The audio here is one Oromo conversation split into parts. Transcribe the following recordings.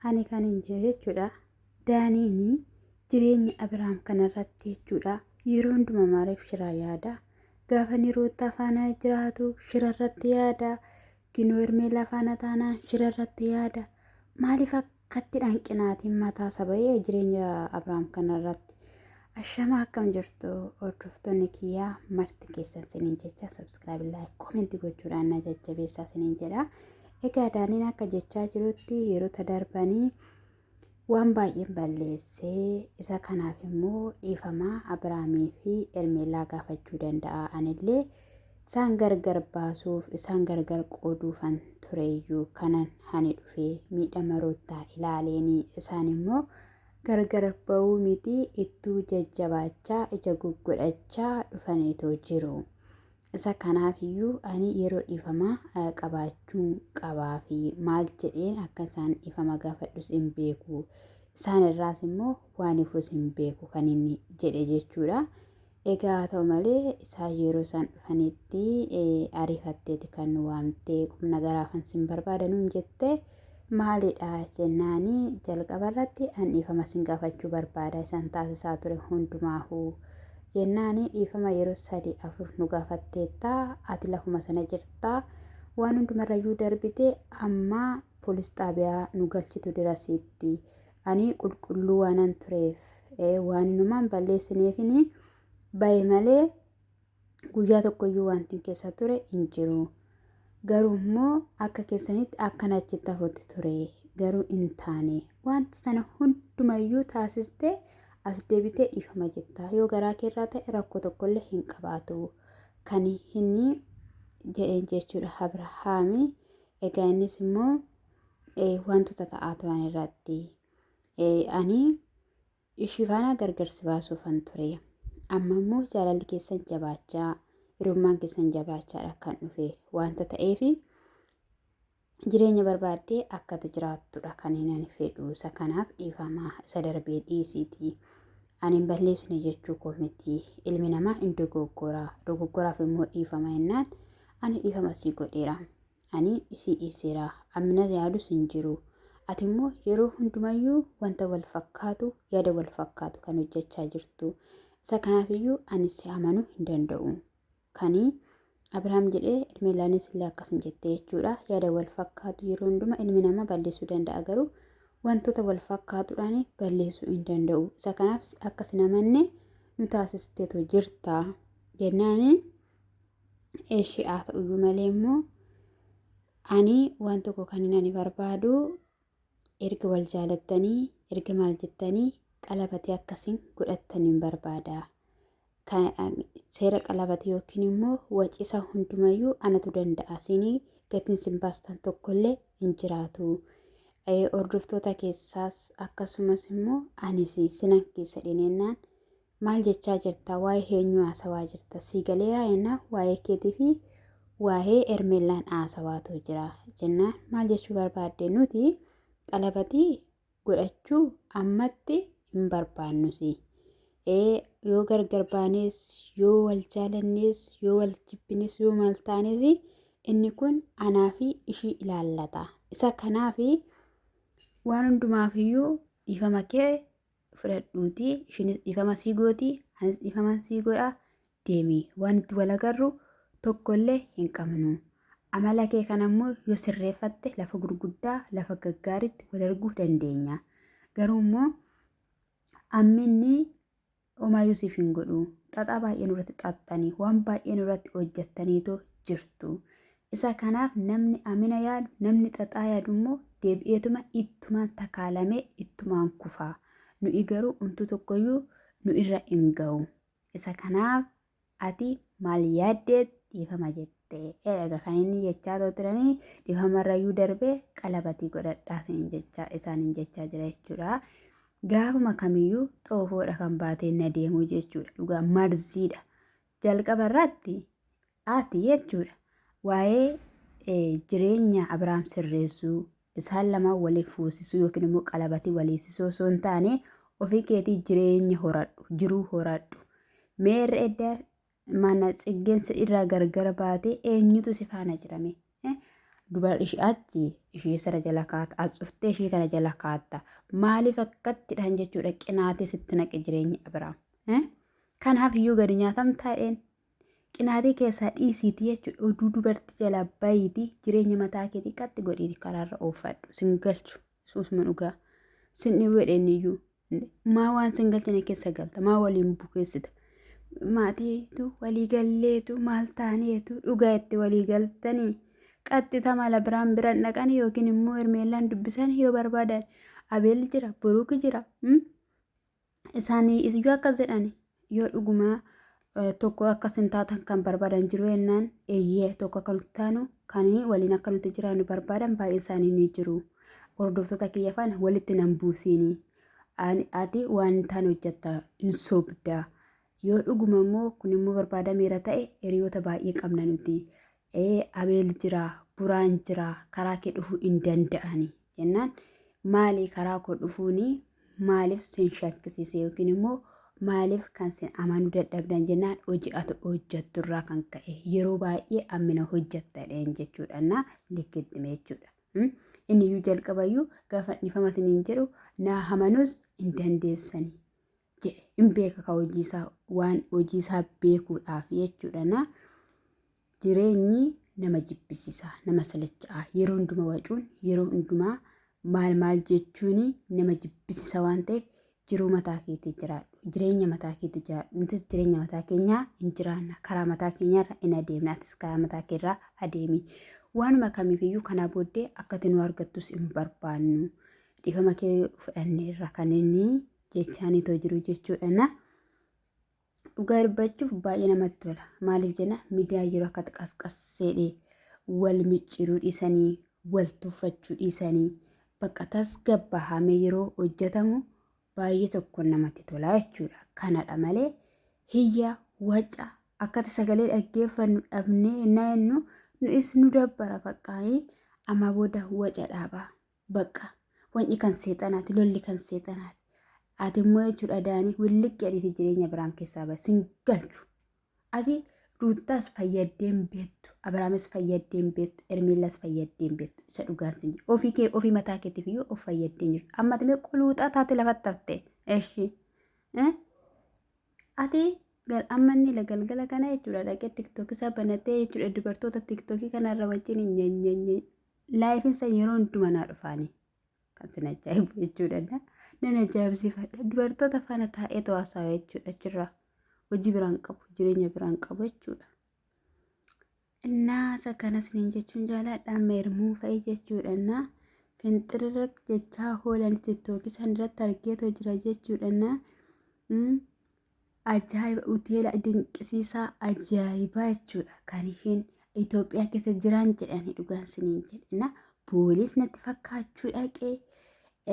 Ani kan hin jiru jechuudha. Daaniini jireenya Abiraam kanarratti jechuudha. Yeroo hundumaa maaliif shiraa yaada? Gaafa inni Ruuttaa faana jiraatu shirarratti yaada. Ginoo Hermeellaa faana taanaan shirarratti yaada. Maaliif akkatti dhanqinaatiin mataa saba'ee jireenya Abiraam kanarratti? Ashamaa akkam jirtu hordoftoonni kiyyaa marti keessan siniin jecha sabskiraayib laayik koomentii gochuudhaan na jajjabeessaa siniin jedha. Egaa Daaniin akka jechaa jirutti yerota darbanii waan baay'een balleessee isa kanaaf immoo dhiifamaa Abiraamii fi Ermeellaa gaafachuu danda'a. Anillee isaan gargar baasuuf isaan gargar qooduufan tureeyyuu kanan hani dhufee miidhama ruuttaa ilaaleenii isaan immoo gargar ba'uu miti ittuu jajjabaachaa ija guggodhachaa dhufaniitoo jiru. Isa kanaafiyyuu ani yeroo dhiifamaa qabaachuun qabaa fi maal jedheen akka isaan dhiifama gaafadhus hin beeku. Isaan irraas immoo waan ifus hin beeku kan inni jedhe jechuudha. Egaa haa ta'u malee isaa yeroo isaan dhufanitti ariifatteeti kan waamtee qubna garaafan sin barbaada nuun jettee. Maalidha jennaani jalqaba irratti an dhiifama sin gaafachuu barbaada isan taasisaa ture hundumaahu jennaani dhiifama yeroo sadi afur nu gaafatteetta ati lafuma sana jirta waan hundumarrayyuu darbite amma polis xaabiyaa nu galchitu dirasiitti ani qulqulluu waanan tureef waan inumaan balleessineefini baye malee guyyaa tokkoyyuu wantin keessa ture hin jiru. Garuu immoo akka keessanitti akkan achitti hafutti ture. Garuu hin taane. Wanti sana hundumayyuu taasistee as deebitee dhiifama jetta. Yoo garaa keerraa ta'e rakkoo tokkollee hin qabaatu. Kan hin jedheen jechuudha Abrahaami. Egaa innis immoo wantoota ta'aa turan irratti ani Ishii faana gargar si baasuufan ture. Amma immoo jaalalli keessan jabaachaa, hirummaan keessan jabaachaadha kan dhufe wanta ta'eef jireenya barbaaddee akkati jiraattudha kan ani fedhu. Isa kanaaf dhiifama isa darbee dhiisiiti. Ani hin balleessine jechuu koo miti. Ilmi namaa hin dogoggora. Dogoggoraaf immoo dhiifama jennaan ani dhiifama sii godheera. Ani si dhiiseera. Ammina yaadus hin jiru. Ati immoo yeroo hundumayyuu wanta wal fakkaatu, yaada wal fakkaatu kan hojjechaa jirtu. Isa kanaafiyyuu ani si amanuu hin danda'u. Kani Abrahaam jedhee Ermeelaanis illee akkasuma jettee jechuudha. Yaada wal fakkaatu yeroo hundumaa ilmi namaa balleessuu danda'a garuu wantoota wal fakkaatuudhaan balleessuu hin danda'u. Isa kanaaf akka sin amanne nu taasisteetu jirta. Jennaani Eshi haa ta'uyyuu malee immoo ani waan tokko kan ani barbaadu erga wal jaalattanii erga maal jettanii qalabatee akkasiin godhattaniin barbaada. Seera qalabate yookiin immoo wacisa hundumayyuu anatu danda'a siinii gatiin sin baastan tokkollee hin jiraatu. Hordoftoota keessaas akkasumas immoo anis sinan keessa dhinennaan Maal jechaa jirta? Waa'ee eenyuu haasawaa jirta? Sii galeeraa jennaan waa'ee keetii fi waa'ee Hermeellaan haasawaatu jira jennaan maal jechuu barbaadde nuti qalabatii godhachuu ammatti hin barbaannusi. Ee yoo gargar baanees yoo wal jaalannees yoo wal jibbines yoo maal taanes inni kun anaa fi ishii ilaallata. Isa kanaaf waan hundumaafiyyuu dhiifama kee fudhadhuutii ishiinis dhiifama sii gootii anis dhiifama sii godha deemii waan itti wal agarru tokkollee hin qabnu. Amala kee kana immoo yoo sirreeffatte lafa gurguddaa lafa gaggaariitti wal arguu dandeenya. Garuu immoo amminni homaayyuu siif hin godhu. Xaxaa baay'ee nurratti xaxxanii waan baay'ee nurratti hojjettaniitoo jirtu. Isa kanaaf namni amina yaadu, namni xaxaa yaadu immoo deebi'eetuma ittumaan takaalamee ittumaan kufa. Nu'i garuu umtuu tokkoyyuu nu irra hin ga'u. Isa kanaaf ati maal yaaddee dhiifama jette? Eega kan inni jechaa too turanii dhiifamarrayyuu darbee qalabatii godhadhaa siin jechaa isaan hin jechaa jira jechuudha. Gaafuma kamiyyuu xoofoodha kan baatee na deemuu jechuudha. Dhugaa marziidha. Jalqaba irratti ati jechuudha. Waa'ee eh, jireenya Abrahaam sirreessuu, isaan lamaan waliin fuusisuu yookiin immoo qalabatii waliisisuu osoo hin taane ofii keetii jireenya horadhu, jiruu horadhu. Mee irra edda mana tsiggeen si irraa gargar baate eenyutu si faana jirame? Eh? Dubar ishii achi ishii sana jala kaata, as cuftee ishii kana jala kaatta. Maaliif akkattidhaan jechuudha qinaatee sitti naqe jireenya Abrahaam. Eh? Kanaaf iyyuu gadi nyaatamtaadheen Qinaatee keessaa dhiisiiti jechuudha. Oduu dubartii jalaa bayiiti jireenya mataa keetii qatti godhiiti karaarra oofadhu. Sin galchu. Suusuma dhugaa. Sin dhiweedheen iyyuu. Maa waan sin galchine keessa galta. Maa waliin bukeessita. Maatiitu walii galleetu maal taaneetu dhugaa itti walii galtanii. Qaxxita mala biraan biran dhaqan yookiin immoo hermeellaan dubbisan yoo barbaadan. Abeel jira, Buruuk jira. isaanii iyyuu akka jedhani yoo dhugumaa tokko akka isin taatan kan barbaadan jiru jennaan eeyyee tokko akka nuti taanu kan waliin akka nuti jiraannu barbaadan baay'een isaanii ni jiru. Hordoftoota kiyya faana walitti nan buusiini. Ati waan hin taane hojjetta hin sobda. Yoo dhuguma immoo kun immoo barbaadameera ta'e hiriyoota baay'ee qabna nuti. ee abeel jira buraan jira karaa kee dhufuu hin danda'ani jennaan maalii karaa koo dhufuuni maaliif sin shakkisiise yookiin immoo maaliif kan sin amanuu dadhabdan jennaan hojii ati hojjattu irraa kan ka'e yeroo baay'ee ammina hojjattadheen jechuudha na likkittime jechuudha. Mm? Inni iyyuu jalqabayyuu gaafa dhifama siniin jedhu naa hamanuus hin dandeessani. jedhe hin beeka ka hojiisaa waan hojiisaa beekuudhaaf jechuudha na jireenyi nama jibbisiisaa nama salacha'aa yeroo hundumaa wacuun yeroo hundumaa maal maal jechuun nama jibbisiisa waan ta'eef jiruu mataa keetii jiraadhu jireenya mataa keetii jiraadhu nutis jireenya mataa keenyaa hin jiraanna karaa mataa keenyaarra hin adeemna atis karaa mataa keerraa adeemi waanuma kamiifiyyuu kanaa booddee akkati nu argattus hin barbaannu dhiifama kee fudhanneerra kan inni jechaanii too jiru jechuudha na dhugaa dubbachuuf baay'ee namatti tola maaliif jenna miidiyaa yeroo akka qasqasseedhe wal micciiruu dhiisanii wal tuffachuu dhiisanii bakka tasgabbaa'amee yeroo hojjetamu baay'ee tokko namatti tola jechuudha kanadha malee hiyya waca akkati sagalee dhaggeeffannu dhabnee naannu nu'is nu dabbara faqqaanii amma booda waca dhaabaa. Baqqa wanci kan seexanaati lolli kan seexanaati. Ati immoo jechuudha daanii williq jedhiiti jireenya Abiraam keessaa bahe sin galchu. Ati ruuttaas fayyaddeen beektu Abiraamis fayyaddeen beektu Ermiillaas fayyaddeen beektu isa dhugaan sin jedhu. Ofii kee ofii mataa keetiif iyyuu of fayyaddeen jirtu. Amma ati mee quluuxaa taate lafatti hafte. Eshi. Ati gar amma inni la galgala kana jechuudha dhaqee tiktookii isaa banatee jechuudha dubartoota tiktookii kanarra wajjin nyanyanyany Laayifessa yeroo hundumaa naa dhufaanii. Kan sin ajaa'ibu jechuudha. Nan ajaa'ibsiifadha. Dubartoota faana taa'ee tawaasaa jechuudha achirraa. Hojii biraan qabu, jireenya biraan qabu jechuudha. Innaa isa kana siniin jechuun jaaladha. Amma ermuu fa'i jechuudha. Innaa finxirra jechaa hoolan tiktookii san irratti argeetoo jira jechuudha. Innaa ajaa'iba hoteela dinqisiisaa ajaa'ibaa jechuudha kan isheen Itoophiyaa keessa jiraan jedhanii dhugaan siniin jedhina boolees natti fakkaachuu dhaqee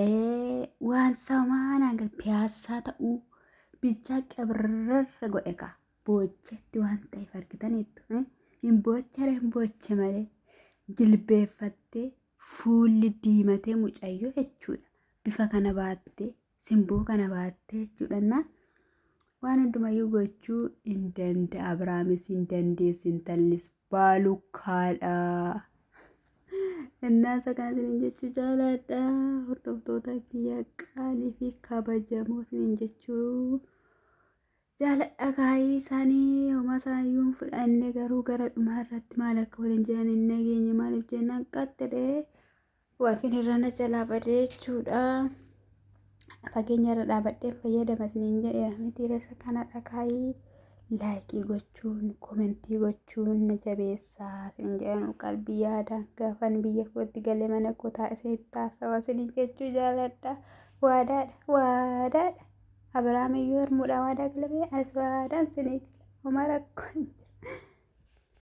ee, waan samaanaan gad piyaassaa ta'uu bichaa qabirrarra godhe kaa boochetti waan ta'eef argitaniittu eh? hin boochere hin booche malee jilbeeffattee fuulli diimatee mucayyoo jechuudha bifa kana baattee simboo kana baatte jechuudhanna waan hundumayyuu gochuu hin danda'a abiraamis hin dandeessi intallis baalukkaadha innaasa kana sinin jechuu jaalaadha hordoftoota kiyya qaalii fi kabajamoo sinin jechuu jaaladha kaayii isaanii homaa isaayyuu hin fudhanne garuu gara dhumaa irratti maal akka waliin jiran hin nageenye maaliif jennaan qaxxidhee Waafin irraa na jalaa badee jechuudha. Fageenya irra dhaabadhee fayyadama isiniin jedheera miti resa kana dhakaayii laayikii gochuun komentii gochuun na jabeessaa isin jedhan qalbii yaadaan gaafan biyya kootti galee mana koo taa'isee itti haasawa isiniin jechuu jaaladha. Waadaadha waadaadha. Abiraam iyyuu harmuudhaa waadaa galabee anis waadaan isinii gala. Homaa rakkoo hin jiru.